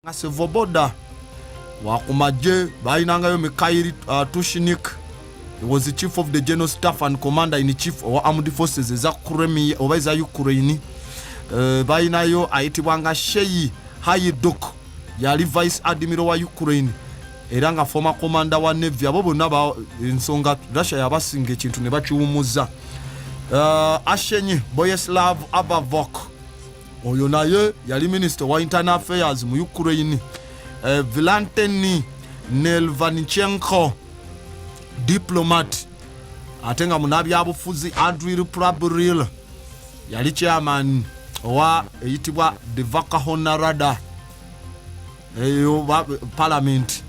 nga sevoboda wakumagye balinangayo mikhail uh, tushnik he was the chief of the general staff and commander in chief owa armed forces eza kremia oba eza ukraine uh, balinayo ayitibwanga sheyi hayiduk yali vice admiral wa ukraine era nga former commander wa navy abo bonna ensonga russia yabasinga ekintu ne bakiwumuzza uh, ashenyi boyeslav abavok oyo naye yali minisita wa internal affairs mu ukraine eh, vilanteni nelvanichenko diplomat ate nga munabyabufuzi andril prabril yali chairman owa eyitibwa devakahonarada eyo palamenti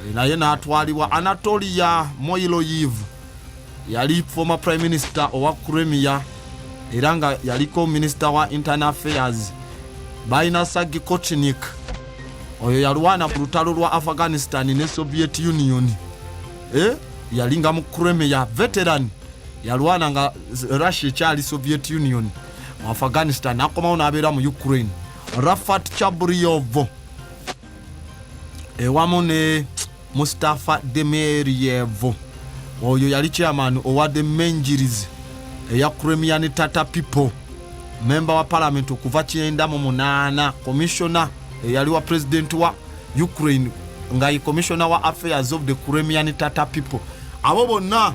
eh, naye natwalibwa anatolia moiloyiv yali former prime minister owa cremia era nga yaliko minister wa internal affairs balina sagi kochnik oyo yalwana ku lutalo lwa afghanistan ne soviet union eh? yalinga mu cremia veteran yalwana nga russia ekyali soviet union mu afghanistan akomawo nabeera mu ukraine Rafat Chabriyovo ewamu ne Mustafa Demiryev oyo yali chairman owa the Menjirizi eya Crimean Tata People memba wa palamenti okuva kyenda mu munaana komishona eyali wa pulezidenti wa Ukraine nga ye komishona wa affairs of the Crimean Tata People abo bonna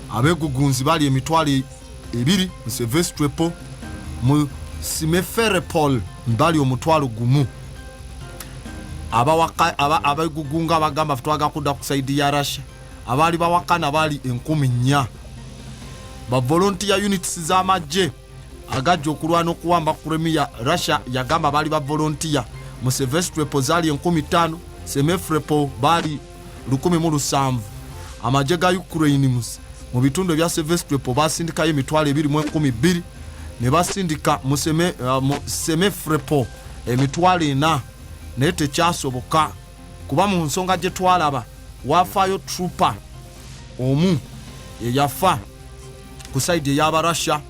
abegugunzi bali emitwalo e-, ebiri musevestrepo mu simeferepol mbali omutwalo gumu abegugunga abagamba fetwaga kudda ku saidi ya russia abaali bawakana bali enkumi nnya bavolontiya units z'amagye agajja okulwana okuwamba kremia russia yagamba baali bavolontiya mu sevestrepo zaali enkumi ttaano semefrepo baali lukumi mu lusanvu amagye ga ukraine mus mu bitundu ebya sevestwepo basindikayo emitwalo ebiri mu enkumi bbiri ne basindika mu uh, semefrepo emitwalo ena naye tekyasoboka kuba mu nsonga gye twalaba waafaayo trooper omu eyafa ku saidi eyaba russia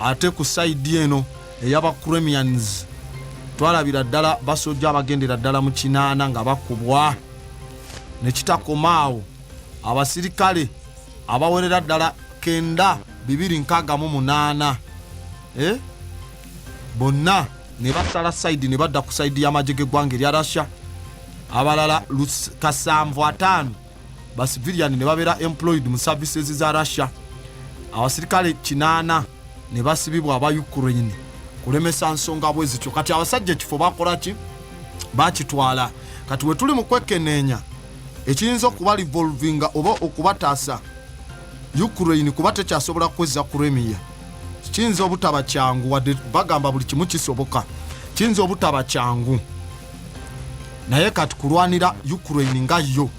ate ku saidi eno eyaba cremians twalabira ddala basojja abagendera ddala mu kinaana nga bakubwa nekitakomaawo abasirikale abawerera ddala kenda bibiri nkaaga mu munaana eh? bonna ne basala saidi ne badda ku saidi y'amagye g'eggwanga erya russia abalala kasanvu ataano ba civilian ne babeera employed mu services za russia abasirikale kinaana ne basibibwa aba ukraine kulemesa nsonga bwe zityo kati abasajja ekifo bakola ki bakitwala kati we tuli mu kwekeneenya ekiyinza okuba revolvinga oba okubataasa ukraine kuba tekyasobola kwezza kuremiya kiyinza obutaba kyangu wadde bagamba buli kimu kisoboka kiyinza obutaba kyangu naye kati kulwanira ukraine nga yo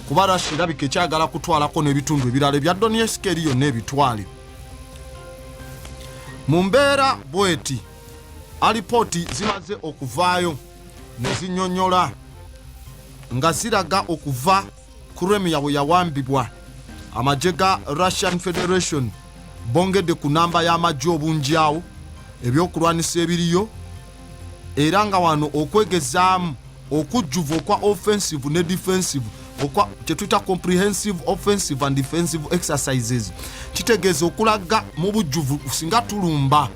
kuba russia erabika ekyagala kutwalako n'ebitundu ebirala ebya doniesk eri yonna ebitwale mu mbeera bweti alipooti zimaze okuvaayo ne zinyonyola nga ziraga okuva Crimea bwe yawambibwa, amagye ga Russian Federation bongedde ku namba y'amagye obunjyawo ebyokulwanisa ebiriyo era nga wano okwegezaamu okujjuvu okwa offensive ne defensive okwa kyetuyita comprehensive offensive and defensive exercises kitegeeza okulaga mu bujjuvu singa tulumba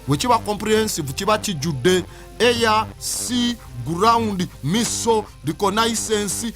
wekiba comprehensive kiba kijjudde air sea ground miso reconnaissance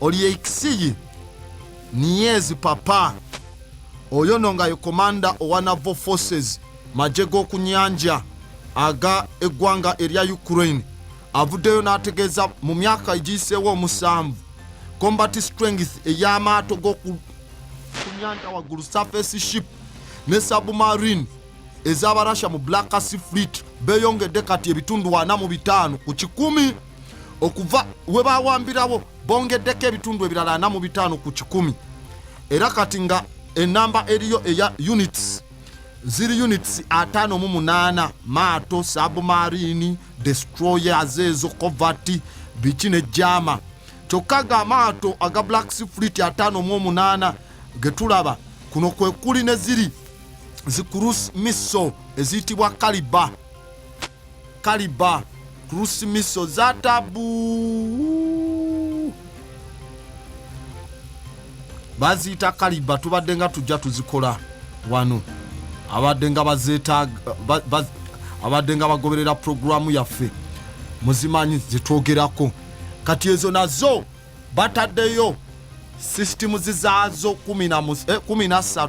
oli eikisiyi niyezi papa oyo no nga ye komanda owa navo forces magye g'oku nyanja aga eggwanga erya ukraine avuddeyo n'ategeeza mu myaka egiyiseewo omusanvu combat strength ey'amaato g'oku nyanja waggulu surface ship ne submarine ez'abarussia mu black sea fleet beeyongedde kati ebitundu ana mu bitaano ku kikumi okuva we baawambirawo bongeddeko ebitundu ebirala ana mu bitaano ku kikumi era kati nga enamba eriyo eya units ziri units ataano mu munaana maato sabumarini destroyers ezo covert biki ne jama kyokka ga amaato aga black sifrit ataano mu omunaana ge tulaba kuno kwe kuli ne ziri zikurus misso eziyitibwa kaliba kaliba cruise miso za tabu baziyita kaliba tubadde nga tujja tuzikola wano abadde nga bazetaaga abadde nga bagoberera puroguramu yaffe muzimanyi zetwogerako kati ezo nazo bataddeyo sisitimuzi zaazo 13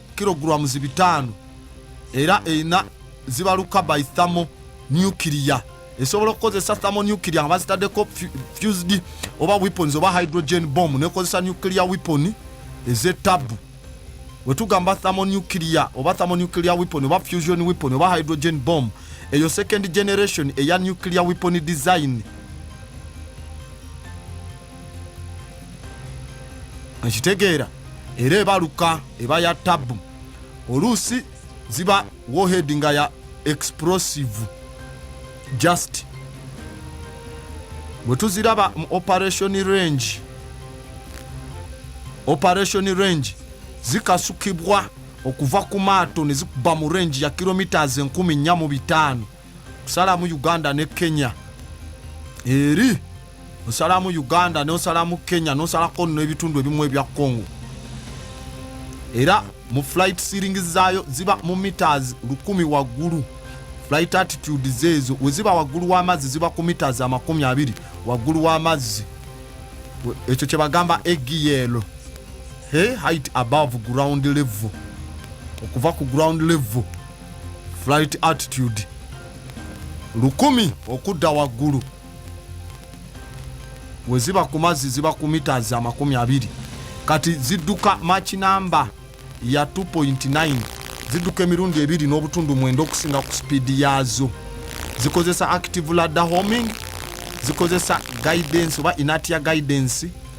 kilograms bitaano era erina zibaluka by thamo nuclear esobola okukozesa thamo nuclear nga bazitaddeko fused oba weapons oba hydrogen bomb nekozesa nuclear weapon ezetabu wetugamba thamo nuclear oba thamo nuclear weapon oba fusion weapon oba hydrogen bomb eyo second generation eya nuclear weapon design ekitegeera era ebaluka eba ya tabu oluusi ziba wohed nga ya explosive just bwe tuziraba mu operation range operation range zikasukibwa okuva ku maato ne zikuba mu range ya kilometres 145 kusalamu uganda ne kenya eri osalamu uganda nosalamu kenya nosalako no ebitundu ebimu ebya congo era mu flight sealing zaayo ziba mu meters lukumi waggulu flight attitude zeezo weziba waggulu w'amazzi ziba ku meters amakumi abiri waggulu w'amazzi ekyo kyebagamba egiyelo he height above ground level okuva ku ground level flight attitude lukumi okudda waggulu we ziba ku mazzi ziba ku mitas amakumi abiri kati zidduka mach namba ya 2.9 zidduka emirundi ebiri n'obutundu mwenda okusinga ku sipiidi yaazo zikozesa active ladder homing zikozesa guidance oba inatia guidance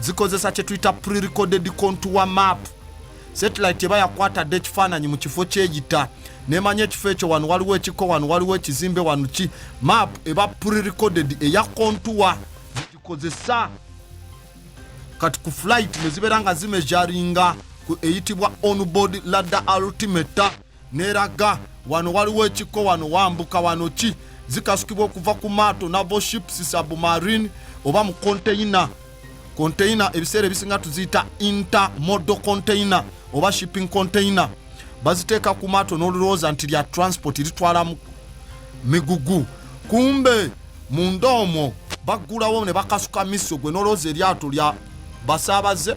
zikozesa kye tuyita pre-recorded contour map satellite eba yakwatadde ekifaananyi mu kifo kyeyita nemanya ekifo ekyo wano waliwo ekiko wano waliwo ekizimbe wano ki map eba pre-recorded eya contour zigikozesa kati ku flight ne zibeera nga zimejaringa ku eyitibwa onboard ladder altimeter neraga wano waliwo ekikko wano wambuka wano ki zikasukibwa okuva ku maato navo ships submarine oba mu konteyina konteyina ebiseera ebisinga tuziyita intermodo konteyina oba shipping konteyina baziteeka ku maato n'olulowooza nti lya transport litwala migugu kumbe munda omwo baggulawo ne bakasuka miso gwe n'olowooza eryato lya basaabaze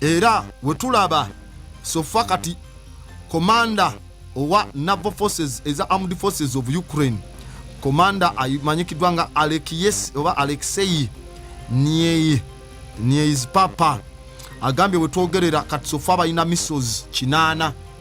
era wetulaba sofa kati komanda owa naval forces eza armed forces of ukraine komanda amanyikiddwa nga alekiyes oba alexei niei nieis papa agambye wetwogerera kati sofa balina missiles kinaana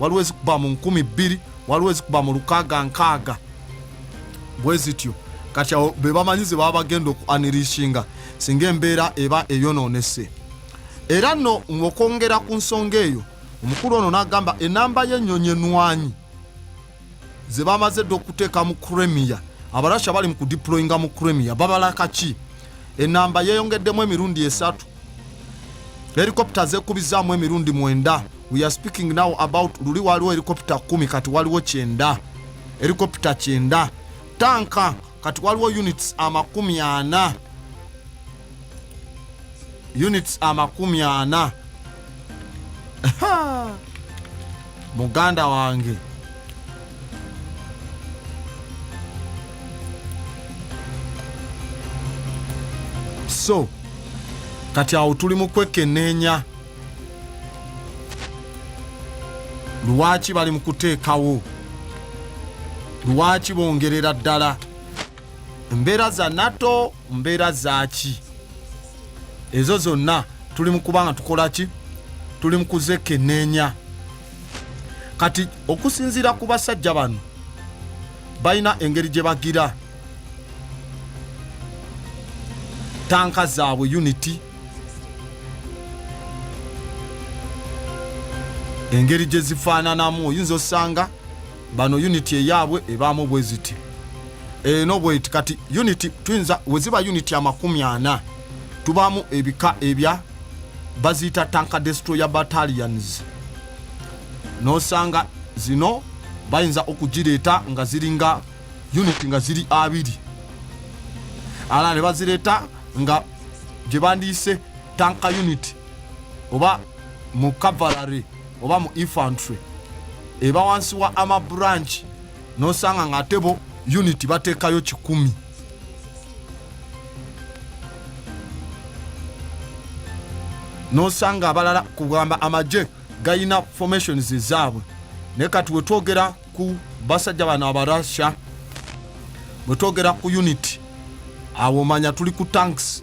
waliwo ezikuba mu nkumi bbiri waliwo ezikuba mu lukaaga nkaaga bwe zityo kati awo be bamanyi ze baba bagenda okuanirishinga singa embeera eba eyonoonese era nno ng'okwongera ku nsonga eyo omukulu ono n'agamba enamba y'ennyonyi enwanyi ze bamaze dda okuteeka mu kremia abarasha bali mu kudiployinga mu kremia babala kaki enamba yeyongeddemu emirundi esatu helikopta zekubizaamu emirundi mwenda we are speaking now about luli waliwo helikopta kumi kati waliwo kyenda helikopta kyenda tanka kati waliwo units amakumi ana units amakumi ana muganda wange so kati awo tuli mu kwekeneenya lwaki bali mu kuteekawo lwaki bongerera ddala mbeera za nato mbeera zaki ezo zonna tuli mukubanga tukola ki tuli mukuzekeneenya kati okusinziira ku basajja bano balina engeri gye bagira tanka zaabwe unity engeri gye zifaananamu oyinza osanga bano unit eyaabwe ebaamu bweziti eno eh, bweti kati unit tuyinza weziba unit amakumi ana tubaamu ebika ebya baziyita tanka destroyer battalions nosanga zino bayinza okugireeta nga ziringa unit nga ziri abiri ala ne bazireeta nga gye bandiyise tanka unit oba mu cavalary oba mu infantry eba wansi wa ama branch nosanga nga ate bo unit bateekayo kikumi nosanga abalala kugamba amagye galina formations ezaabwe naye kati wetwogera ku basajja bano abarussia bwetwogera ku unit awo manya tuli ku tanks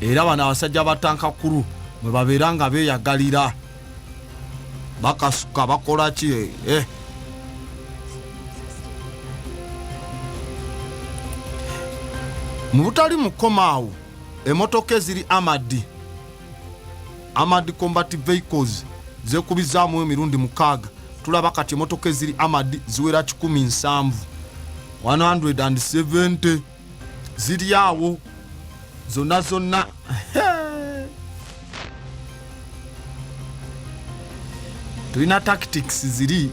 era bano abasajja ba tankakulu mwe babeera nga beeyagalira bakasuka bakola ki eh, eh. mu butali mukomaawo emotoka eziri amadi amadi combat vehicles zekubizaamu emirundi mukaaga tulaba kati emotoka eziri amadi ziwera 1 nsanvu 170 ziri awo zonna zonna tulina tactics ziri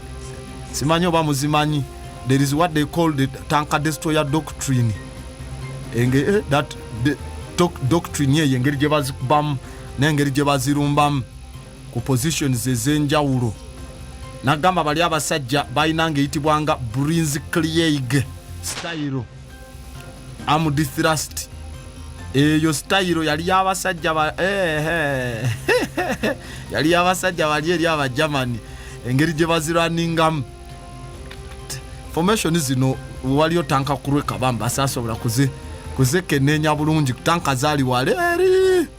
simanyi oba muzimanyi there is what they call the tanka destroyer doctrine enge eh, that the, doc, doctrine eyo engeri gye bazikubamu n'engeri gye bazirumbamu ku positions ez'enjawulo nagamba bali abasajja balina ngaeyitibwanga brins cleaig style amd thrust eyo style yali yabasajja ba eh, eh. yali yabasajja bali eri abagermany engeri gye baziraningamu formation zino waliyo tanka kurwekabamba sasobola kuze kuzekeneenya bulungi tanka zali waleeri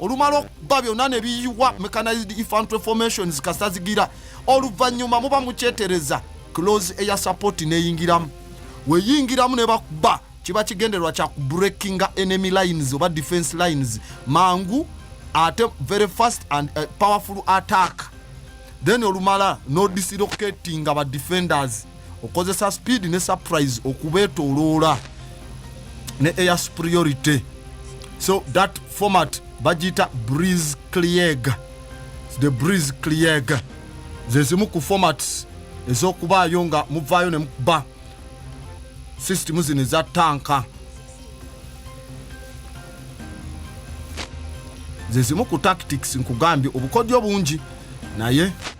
olumala okuba byonna ne biyiwa mechanized infantry formations kasazigira oluvannyuma muba mukyetereza close eya support neyingiramu weyingiramu ne bakuba kiba kigendererwa kya kubreakinga enemy lines oba defense lines mangu ate very fast and uh, powerful attack then olumala nodislocatinga ba defenders okozesa speed ne surprise okubetoloola ne air superiority so that format bagiyita breeze cleag the breeze cleag zezimu ku formats ez'okubaayo nga muvaayo ne mukuba sisitimu zino eza tanka zezimu ku tactics nkugambye obukodyo bungi naye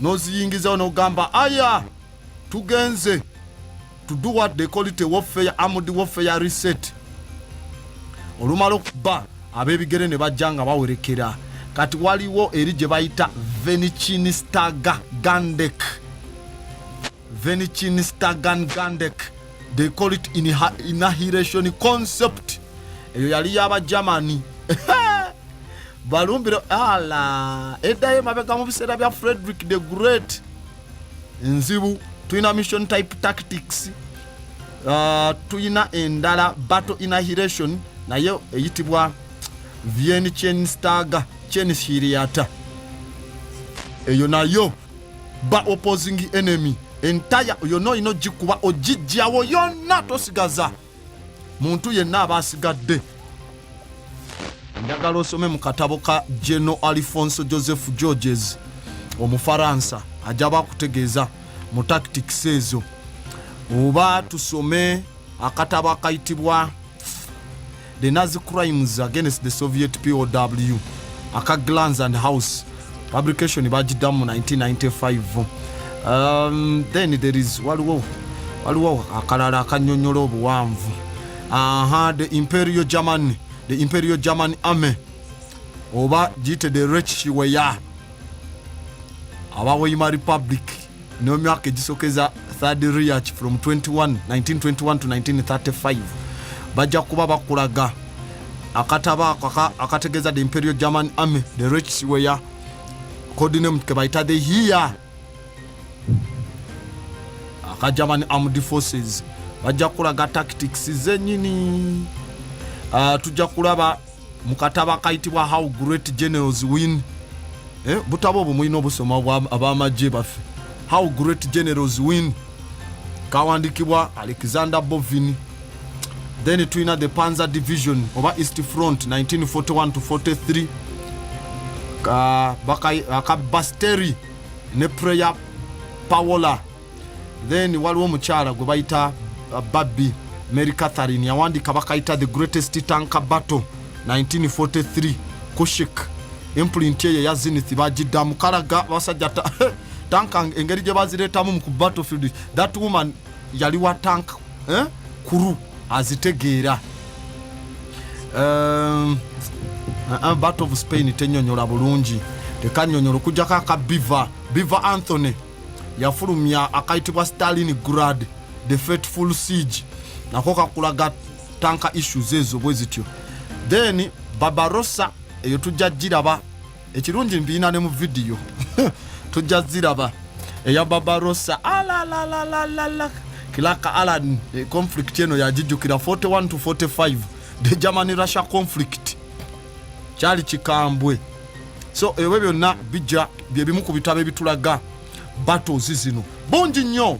n'oziyingizawo n'ogamba aya tugenze to do what they call it a warfare armed warfare reset olumala okuba ab'ebigere ne bajja nga bawerekera kati waliwo eri gye bayita venichin staga gandek Venichin Stagan Gandek they call it inahilation concept eyo yali yaba Germany balumbira ala eddayo mabega mu biseera bya Frederick the Great nzibu tulina mission type tactics uh, tulina endala battle inahilation naye eyitibwa Vienichenstaga chenshiriata eyo nayo ba opposing enemy entire yonna olina ogikuba ogijjawo yonna tosigaza muntu yenna aba asigadde njagala osome mu katabo ka geno alifonso joseph georges omufaransa ajja bakutegeeza mu tactics ezo oba tusome akatabo akayitibwa the Nazi crimes against the Soviet POW aka Glans and House publication bagiddamu mu 1995 um, then there is waliwo waliwo akalala akanyonyola obuwanvu aha the imperial german the imperial german army oba giyite the rechweya abaweima republic no myaka egisokeza third reach from 21 1921 to 1935 bajja kuba bakulaga akataba ako akategeeza the imperial german army the reach weya codename kebayita the here aka german armed forces bajja kulaga tactics zenyini uh, tujja kulaba mu katabo akayitibwa how great generals win eh, butabo obwo mulina obusoma ab'amagye baffe how great generals win kawandikibwa alexander bovin then tulina the panzer division oba east front 1941 to 43 ka, baka, ka basteri ne prayer pawola then waliwo omukyala gwe bayita uh, babbi mary catherine yawandiika bakayita the greatest tanka battle 1943 kushik impulinti eyo eya zinith bagidda mukalaga basajja tanka engeri gye bazireetamu mu ku battlefield that woman yali wa tank eh? kuru azitegeera um, uh, uh, battle of spain tenyonyola bulungi tekanyonyola okujjako aka biva biva anthony yafulumya akayitibwa stalin grad the fateful siege nako kakulaga tanka issues ezo bwe zityo then babarossa eyo tujja giraba ekirungi mbiina ne mu vidiyo tujja ziraba eya babarossa alalalalala clark allan eh, conflict eno yagijjukira 41 to 45 the germany russia conflict kyali kikambwe so ebyo byonna bijja byebimu ku bitabo ebitulaga battles zino bungi nnyo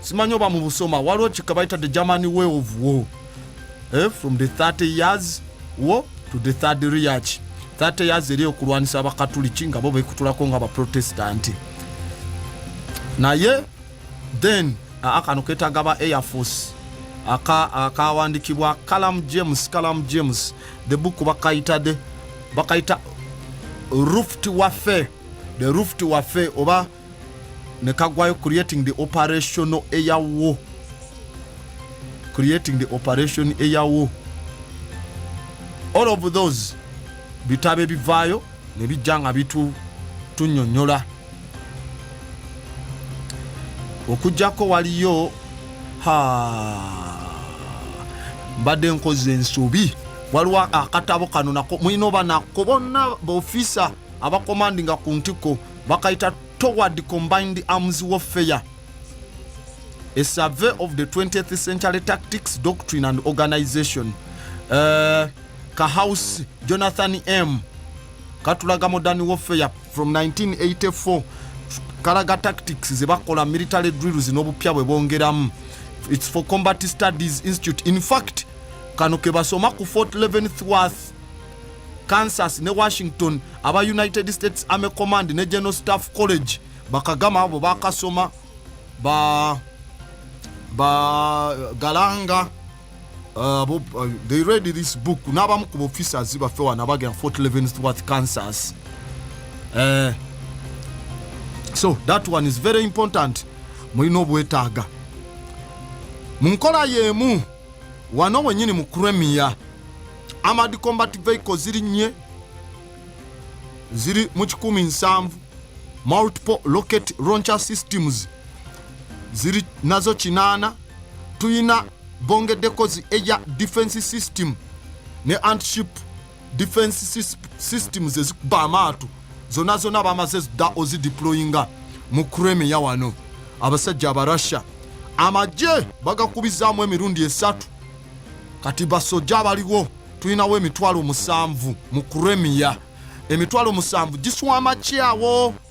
simanyi oba mu busoma waliwo kika bayita the germany way of war eh, from the 30 years war to the third reach 30 years eri okulwanisa abakatuliki nga bo bekutulako nga baprotestanti naye then aa kano ketaga ba air force aka akawandikibwa kalam james kalam james the book bakayita de bakayita ruft wafe the ruft wafe oba nekagwayo creating the operational air war creating the operation air war all of those bitabo ebivaayo nebijja nga bitu tunyonyola okujjako waliyo mbadde nkozi ensobi waliwo akatabo kano nako mulina oba nako bonna baofisa abakomandinga ku ntiko bakayita toward combined arms warfare a survey of the 20th century tactics doctrine and organization uh, eh, kahouse jonathan m katulaga modern warfare from 1984 kalaga tactics zebakola military drills n'obupya bwe bongeramu its for combat studies institute in fact kano kebasoma ku fort leventhworth kansas ne washington aba united states army command ne general staff college bakagama abo bakasoma ba ba galanga Uh, bo, uh, they read this book n'abamu ku officers baffe wano abagenda fort leavenworth kansas uh, so that one is very important mulina obwetaaga mu nkola y'emu wano wenyini mu cremia amad combat vehicle ziri nye ziri mu kikumi nsanvu multiple rocket launcher systems ziri nazo kinaana tuyina bongedde kozi eya defense system ne antship defense systems ezikuba amaato zona zona bamaze zidda ozideployinga mu kremia wano abasajja abarussia amagye bagakubizaamu emirundi esatu kati basoja abaliwo tulinawo emitwalo musanvu mu kremia emitwalo musanvu giswama kyawo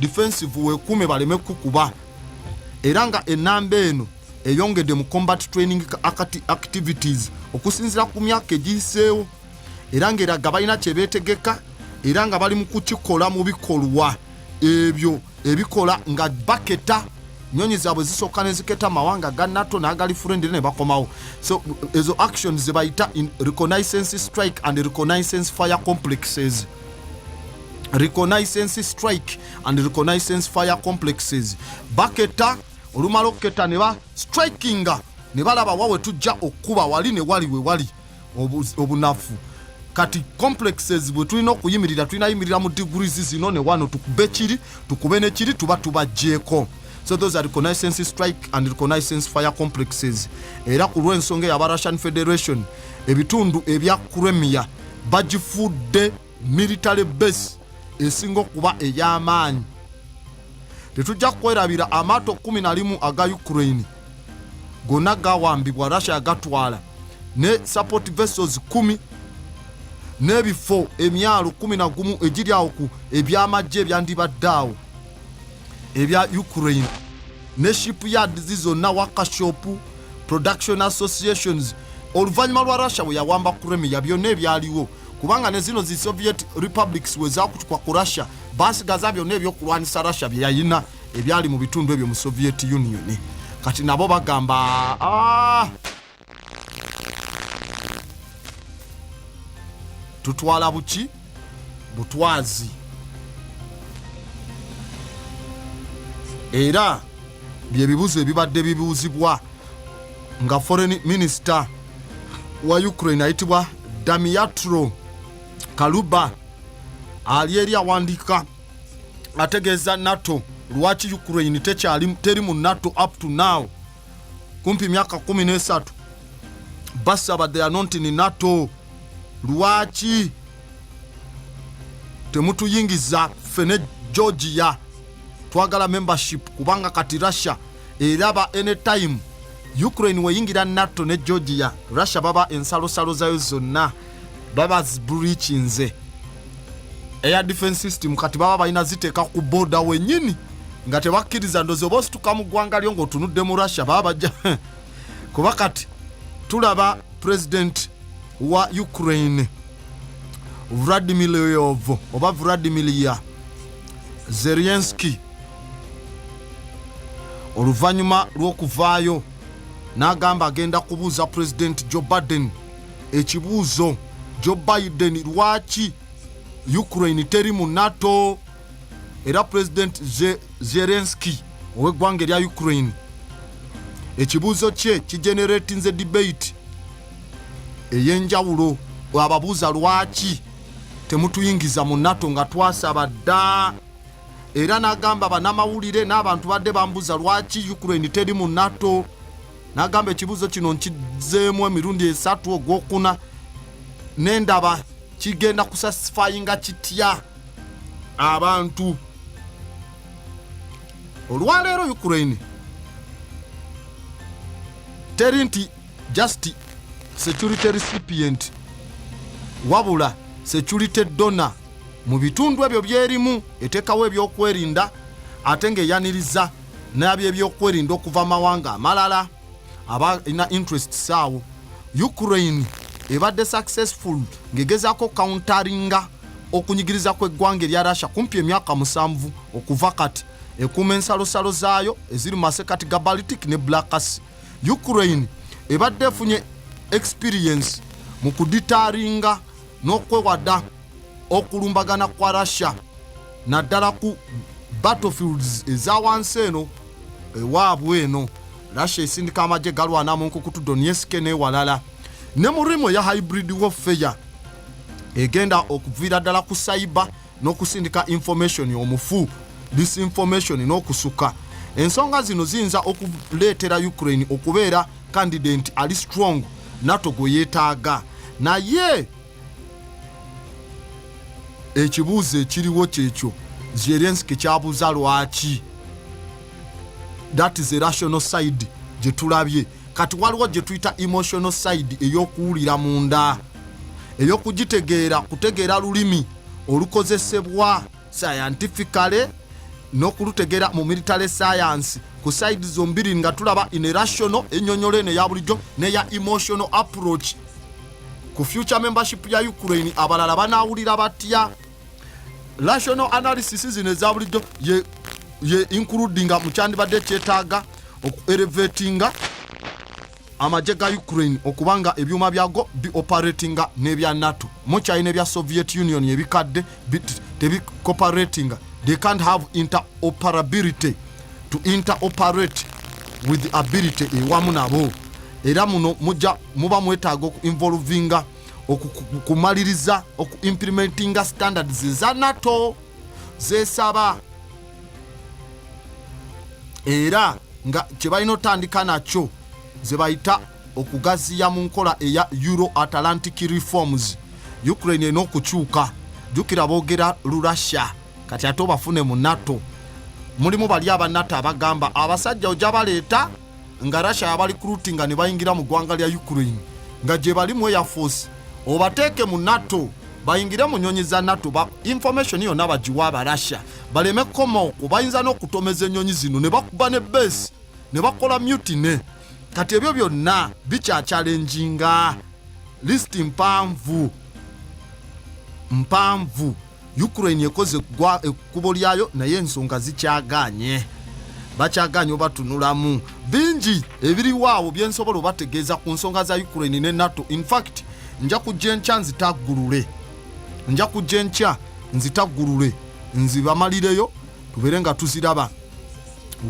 defensive wekuume baleme kukuba era nga enamba eno eyongedde mu combat training activities okusinzira ku myaka egiyiseewo era ngaeraga balina kyebeetegeka era nga bali mu kukikola mu bikolwa ebyo ebikola nga baketa nyonyi zaabwe zisooka neziketa amawanga ga nato n'agali furendire ne bakomawo so ezo actions zebayita in reconnaissance strike and reconnaissance fire complexes reconnaissance strike and reconnaissance fire complexes baketta olumala okuketta ne ba strikinga ne balaba wawe tujja okukuba wali ne wali wewali obunafu kati complexes bwe tulina okuyimirira tulina yimirira mu degrees zino ne wano tukube kiri tukube ne kiri tuba tubajjeeko so those are reconnaissance strike and reconnaissance fire complexes era ku lw'ensonga eyo aba russian federation ebitundu ebya kremia bagifudde military base esinga okuba ey'amaanyi tetujja kukwerabira amaato 11 aga ukraine gonna gawambibwa russia yagatwala ne support vessels 1 n'ebifo emyalo 11 egiri awo ku ebyamagye ebyandibadde awo ebya ukraine ne ship yards zonna wakashop production associations oluvannyuma lwa russia bwe yawamba kuremia byonna ebyaliwo kubanga ne zino zi soviet republics we zakutukwa ku russia basigaza byonna ebyokulwanyisa russia bye yalina ebyali mu bitundu ebyo mu soviet union kati nabo bagamba ah! tutwala buki butwazi era byebibuzo ebibadde bibuuzibwa nga foreign minister wa ukraine ayitibwa damiatro kaluba ali eri awandiika ategeeza nato lwaki ukraine tekyali teri mu nato up to now kumpi myaka kumi n'esatu basaba they are not in nato lwaki temutuyingiza ffe ne georgia twagala membership kubanga kati russia eraba anytime ukraine weyingira nato ne georgia russia baba ensalosalo zayo zonna baba zibreachinze air defense system kati baba balina ziteeka ku boda wenyini nga tebakkiriza ndozi oba osituka mu ggwanga lyo ngaotunudde mu russia baba bajja kuba kati tulaba president wa ukraine vladimir leov oba vladimir ya zerienski oluvannyuma lw'okuvaayo n'agamba agenda kubuuza president joe baden ekibuuzo joe biden lwaki ukraine teri mu nato era president zelenski ow'eggwanga erya ukraine ekibuuzo kye kigeneratinze debate ey'enjawulo ababuuza lwaki temutuyingiza mu nato nga twasaba dda era n'agamba banamawulire n'abantu badde bambuuza lwaki ukraine teri mu nato nagamba ekibuuzo kino nkizeemu emirundi esatu ogwokuna nendaba kigenda kusasifayinga kitya abantu olwaleero ukraine teri nti just security recipient wabula security dona mu bitundu ebyo byerimu etekawo ebyokwerinda ate ngaeyaniriza n'abyebyokwerinda okuva mawanga amalala abalina interest saawo ukraine ebadde successful ng'egezaako countaringa okunyigiriza kw'eggwanga erya russia kumpi emyaka musanvu okuva kati ekuuma ensalosalo zaayo eziri mu masekati ga baltic ne blackasi ukraine ebadde efunye experience mu kuditaringa n'okwewada okulumbagana kwa russia naddala ku battlefields eza wansi eno ewaabwe eno russia esindika amagye galwana mu nkukutu donieske n'ewalala ne mu rimu eya hybrid warfare egenda okuviira ddala ku saiba n'okusindika information omufu disinformation n'okusuka ensonga zino ziyinza okuleetera ukraine okubeera kandidenti ali strong nato gwe yeetaaga naye ekibuuzo ekiriwo kyekyo zelenski kyabuuza lwaki that is a rational side gyetulabye kati waliwo gyetuyita emotional side eyokuwulira munda eyokugitegeera kutegeera lulimi olukozesebwa scientifically nokulutegera mu military science ku side zombiri nga tulaba in rational enyonyola eno eya bulijjo neya emotional approach ku future membership ya ukraine abalala banawulira batya rational analysis zino eza bulijjo ye, ye includinga mukyandibadde kyetaaga okuelevatinga amagye ga Ukraine okuba nga ebyuma byago bi operatinga n'ebya NATO mukyali n'ebya Soviet Union ebikadde tebi cooperatinga they can't have interoperability to interoperate with the ability ewamu nabo era muno mujja muba mwetaaga oku involvinga okumaliriza oku implementinga standards za NATO zesaba era nga kyebalina otandika nakyo zebayita okugaziya mu nkola eya euro atlantic reforms ukraine erina okukyuka jukira bogera lurussia kati ate obafune mu nato mulimu bali aba nato abagamba abasajja oja baleeta nga russia yabali kulutinga ne bayingira mu ggwanga lya ukraine nga gye bali mu airforce obateeke mu nato bayingire mu nyonyi za nato ba information yonna bagiwa abarussia baleme kukoma okwo bayinza n'okutomeza ennyonyi zino ne bakuba ne base ne bakola mutine kati ebyo byonna bikyakyalenjinga lisiti mpanvu mpanvu ukraine ekoze gwa ekkubo lyayo naye ensonga zikyagaanye bakyagaanye obatunulamu bingi ebiriwo awo byensobola obategeeza ku nsonga za ukraine ne nato infact nja kujja enkya nzitaggulule nja kujja enkya nzitaggulule nzibamalireyo tubeere nga tuziraba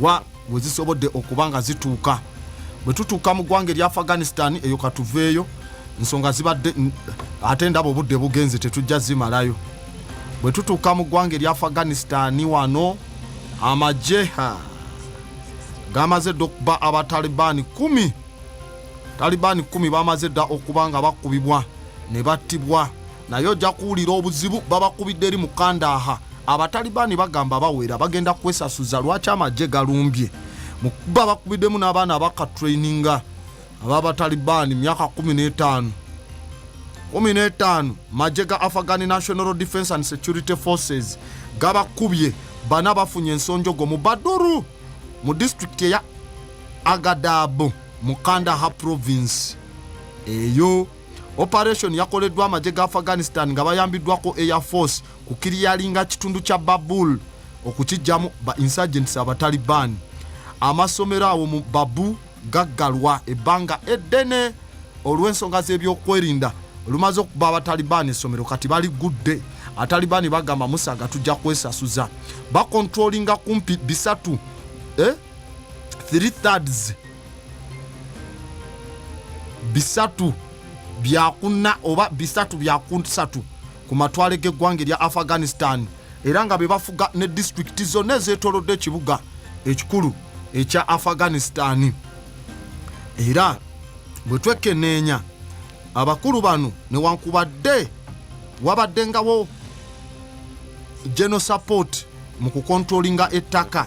wa we zisobodde okuba nga zituuka bwe tutuuka mu ggwanga erya afghanistan eyo katuveeyo nsonga zibadde ate ndaba obudde bugenze tetujja zimalayo bwe tutuuka mu ggwanga erya afghanistan wano amagye gamaze dda okuba abatalibaani kumi talibaani kumi bamaze dda okuba nga bakubibwa ne battibwa naye ojja kuwulira obuzibu babakubidde eri mukandaha abatalibaani bagamba bawera bagenda kwesasuza lwaki amagye galumbye mukuba bakubiddemu n'abaana abakatraininga ababatalibaani myaka 15 15 magye ga afghani national defense and security forces gabakubye bana bafunye ensonjogo mu baduru mu disitulikiti eya agadabu mu kandaha province eyo operation yakoleddwa amagye ga afghanistan nga bayambiddwako air force ku kiriyalinga kitundu kya babul okukijjamu ba insurgents abataliban amasomero awo mu babu gaggalwa ebbanga eddene olw'ensonga z'ebyokwerinda olumaze okuba abataliban essomero kati baligudde atalibani bagamba musaga tujja kwesasuza bakontrolinga kumpi bisatu eh? 3 thirds bisatu byakunna oba bisatu byakunsatu ku matwale g'eggwanga erya afghanistan era nga be bafuga ne disitulikiti zonna ezeetolodde ekibuga ekikulu ekya afghanistan era bwe twekeneenya abakulu bano newankubadde wabaddengawo geno support mu kukontrolinga ettaka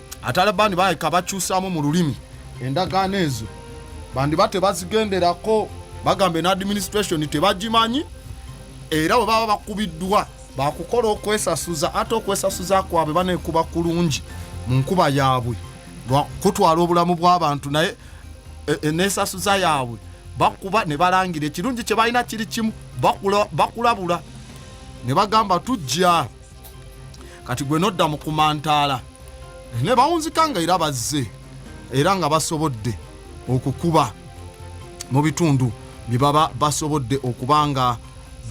Atalabani baleka bakyusamu mu lulimi endagaano ezo bandiba tebazigenderako bagambe ne administration tebagimanyi era bwe baba bakubiddwa bakukola okwesasuza ate okwesasuza kwabwe banekuba kulungi mu nkuba yaabwe kutwala obulamu bw'abantu naye e, e, nesasuza yaabwe bakuba ne balangira ekirungi kye balina kiri kimu bakulabula ne bagamba tujja kati gwe nodda mu kumantaala ne bawunzika nga era bazze era nga basobodde okukuba mu bitundu bye baba basobodde okuba nga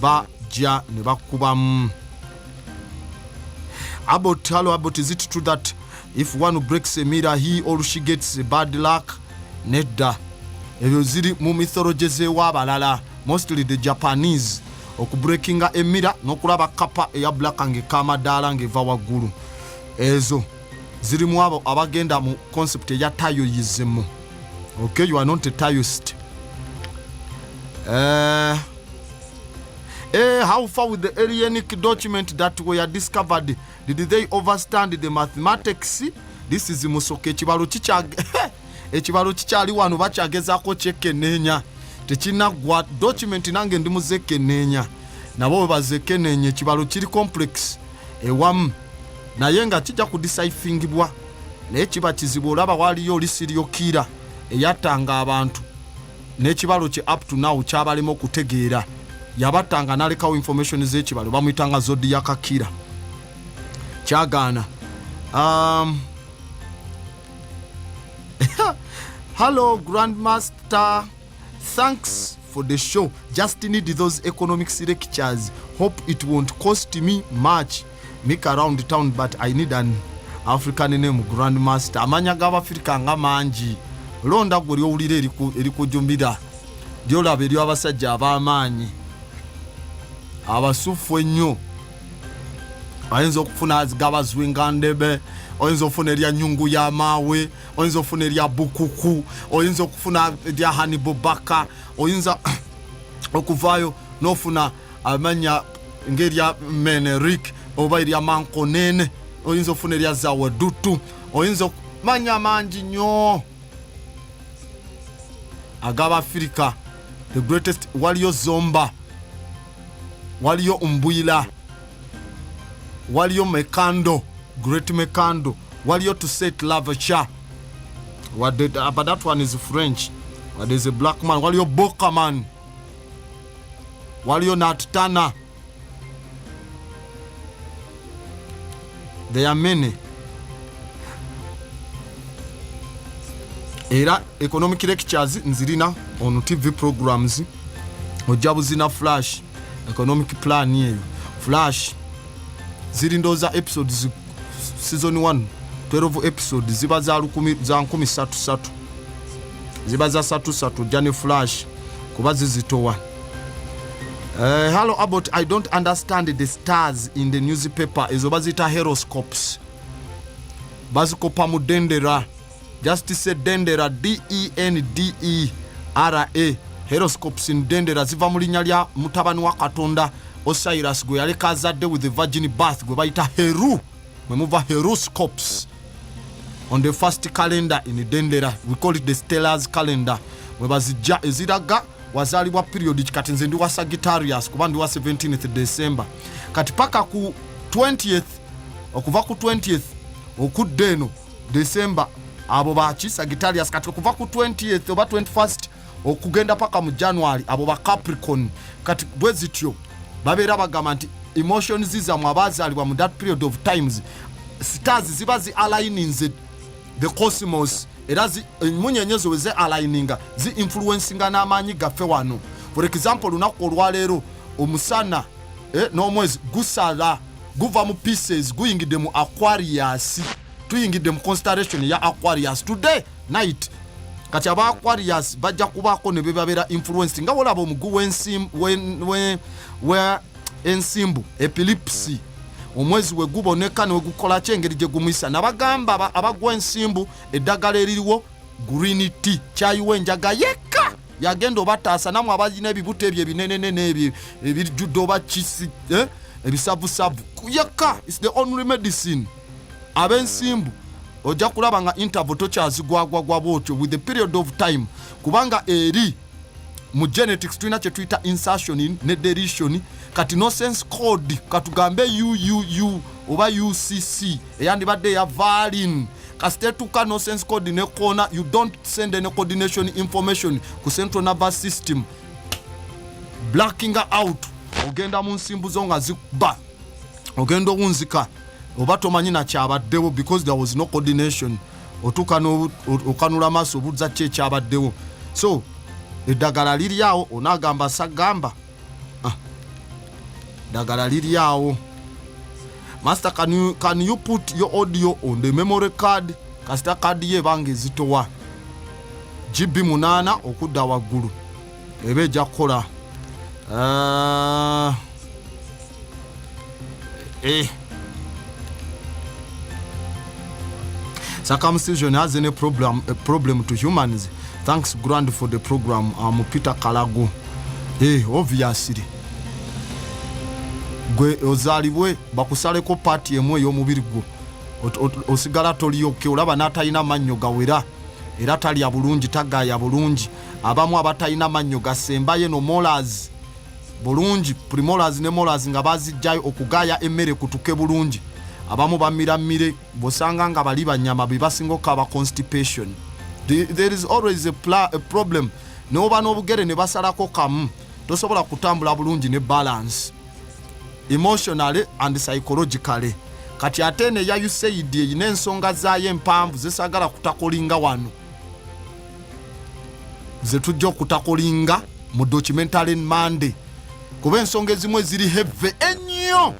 bajja ne bakubamu abot hallo abot is it true that if one breaks a mirror he or she gets bad luck nedda ebyo ziri mu mythology z'ewaabalala mostly the japanese okubrekinga emira nokulaba kapa eya blaka ngaeka amadaala ngaeva waggulu ezo zirimu abo abagenda mu concept eya tayoyizimu okay you are not a tayist uh, eh, uh, eh, how far with the alienik document that were discovered did they overstand the mathematics this is musoka ekibalo kikyage ekibalo kikyali wano bakyagezako kyekeneenya tekinaggwa document nange ndi muzekeneenya nabo webazekeneenya ekibalo kiri complex ewamu naye nga kijja kudisaifingibwa naye kiba kizibu olaba waliyo olisiryokiira eyatanga abantu n'ekibalo kye up to now kyabalema okutegeera yabattanga nalekawo information z'ekibalo bamuyitanga zodi yakakira kyagaana um, hallo grandmaster thanks for the show just need those economics lectures hope it won't cost me much Nick around town but I need an African name Grand Master. Amanya gaba Africa nga manji. Londa gwe lyowulira eriku erikujumbira. Lyolaba eryo abasajja abamaanyi. Abasufu ennyo. Ayinza okufuna azigaba zwinga ndebe. oyinza okufuna erya nyungu ya maawe oyinza okufuna erya bukuku oyinza okufuna erya hanibubaka oyinza okuvaayo nofuna amanya ng'erya menerik oba erya mankonene oyinza okufuna erya zawadutu oyinza okumanya mangi nnyo ag'abafirika the greatest waliyo zomba waliyo mbwila waliyo mekando great mekando waliyo to set love cha wadde uh, but that one is french wadde is a black man waliyo bokaman waliyo natutana there are many era economic lectures nzirina on tv programs ojja buzina flash economic plan eyo flash ziri ndooza episodes season 1 12 episodes ziba za nkumi satu satu ziba za satu satu ojja ne flash kuba zizitowa Uh, eh, hallo abot i don't understand the stars in the newspaper ezo bazita heroscopes bazikopa mu dendera just se dendera dendera e. heroscopes in dendera ziva mu linnya lya mutabani wa katonda osiris gwe yaleka azadde with the virgin bath gwe bayita heru mwe muva heroscopes on the first calendar in dendera we call it the stellars calendar webazijja eziraga wazalibwa period kikati nze ndi wa sagittarius kuba ndi wa 17th december kati paka ku 20th okuva ku 20th okudda eno december abo baki sagittarius kati okuva ku 20th oba 21st okugenda paka mu january abo ba capricorn kati bwe zityo babeera bagamba nti emotions zamwe abazaalibwa mu that period of times stars ziba zi aligninze the cosmos era emunyenye zo weze aligninga zi influencinga n'amaanyi gaffe wano for example olunaku olwaleero omusana eh, n'omwezi gusala guva mu pieces guyingidde mu aquarius tuyingidde mu constellation ya aquarius today night kati aba aquarius bajja kubaako ne bebabeera influence nga wolaba omugu w'ensimbu epilipsi omwezi we guboneka newegukola ki engeri gye gumuyisa nabagamba abagwa ensimbu eddagala eririwo green t kyayiwa enjaga yekka yagenda obataasa namwe abalina ebibuto ebyo ebinenenene ebyo ebijjudde oba kisi eh, ebisavusavu yekka is the only medicine abensimbu ojja kulaba nga interval tokyazigwagwagwa bwotyo with the period of time kubanga eri mu genetics tulina kyetuyita insertion ne deletion kati no sense code katugambe uuu oba ucc eyandibadde ya valin kasita etuuka no sense code nekoona you don't send any coordination information ku central nervous system blacking out ogenda mu nsimbu zo nga zikuba ogenda owunzika oba tomanyi nakyabaddewo because there was no coordination otuuka okanula amaaso obuuza ki ekyabaddewo so eddagala liri awo onaagamba sagamba ah, ddagala ah. liri awo master can you, can you put your audio on the memory card kasita kaadi yo ebanga ezitowa gb munaana okudda waggulu eba ejja kukola ah, eh. circumcision has any problem, a problem to humans thanks grand for the program am um, peter kalagu hey, eh, obviously gwe ozalibwe bakusaleko paati emu ey'omubiri gwo osigala toliyokka olaba n'atalina mannyo gawera era talya bulungi tagaaya bulungi abamu abatalina mannyo gasembaye no molas bulungi primolas ne molas nga bazijjayo okugaaya emmere kutuke bulungi abamu bamira mmire bwosanga nga bali banyama bebasinga okukaba constipation there is always a, pla, a problem neoba n'obugere ne basalako kamu tosobola kutambula bulungi ne balance emotionally and psychologically kati ate eno eya usaid erina ensonga zaayo empanvu zesagala kutakolinga wano zetujja okutakolinga mu documentary monday kuba ensonga ezimu eziri heve ennyo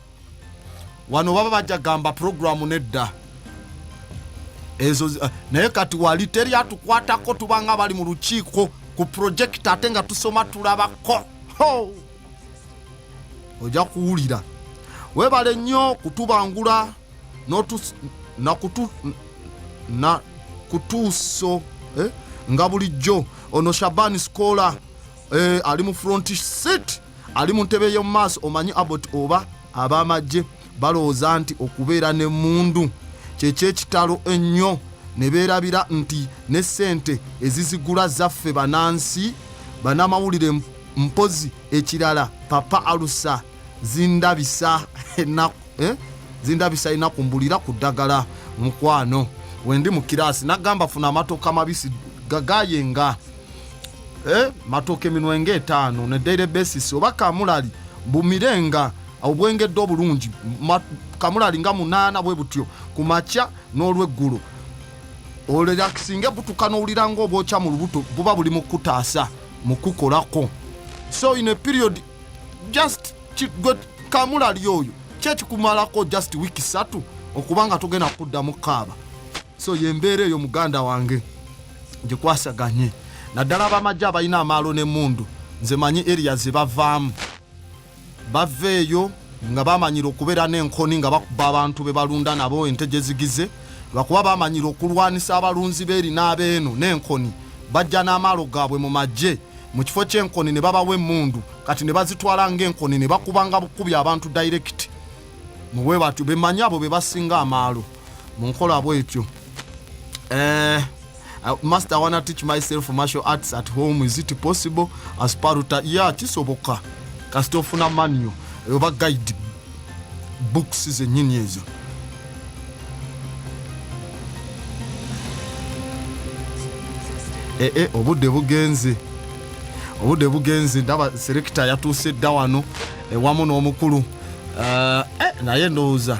wano baba bajja gamba programu nedda ezo eh, naye kati wali teri atukwatako tubanga bali mu lukiiko ku projekiti ate nga tusoma tulabako ojja kuwulira webale nnyo kutubangula na kutuuso eh, nga bulijjo ono shabani sikola eh, ali mu front seat ali mu ntebe y'omu maaso omanyi abot oba ab'amagye balowooza nti okubeera n'emmundu kyekyekitalo ennyo ne beerabira nti ne ssente ezizigula zaffe banansi banamawulire mpozi ekirala papa alusa zindabisa enaku eh? zindabisa enaku mbulira ku ddagala mukwano wendi mu kiraasi nagamba funa amatooka mabisi gagayenga eh? matooka eminwe nga etaano ne daily basis oba kamulali bumirenga obwengedde obulungi kamula alinga munaana bwe butyo ku makya n'olweggulo olerakisinga ebutuka n'owulira ngaobwokya mu lubuto buba buli mukutaasa mukukolako so in a period just gwe kamula ali oyo kyekikumalako just wiiki satu okuba nga tugenda kudda mu kaaba so yembeera eyo muganda wange gyekwasaganye naddala abamajje abalina amaalo n'emundu nze manyi eriya zebavaamu baveeyo nga bamanyira okubeera n'enkoni nga bakuba abantu be balunda nabo ente gye zigize lwakuba bamanyira okulwanisa abalunzi beeri n'abeeno n'enkoni bajja n'amaalo gaabwe mu magye mu kifo ky'enkoni ne babawa emmundu kati ne bazitwala ng'enkoni ne bakubanga bukubi abantu dayirekiti mu bwe batyo bemanyi abo be basinga amaalo mu nkola bwetyo eh, Uh, master I wanna teach myself martial arts at home is it possible as paruta yeah kisoboka kasita ofuna manual oba guide books zenyini ezo ee eh, eh, obudde bugenze obudde bugenze ndaba selekita yatuuse dda wano ewamu n'omukulu eh, naye ndowooza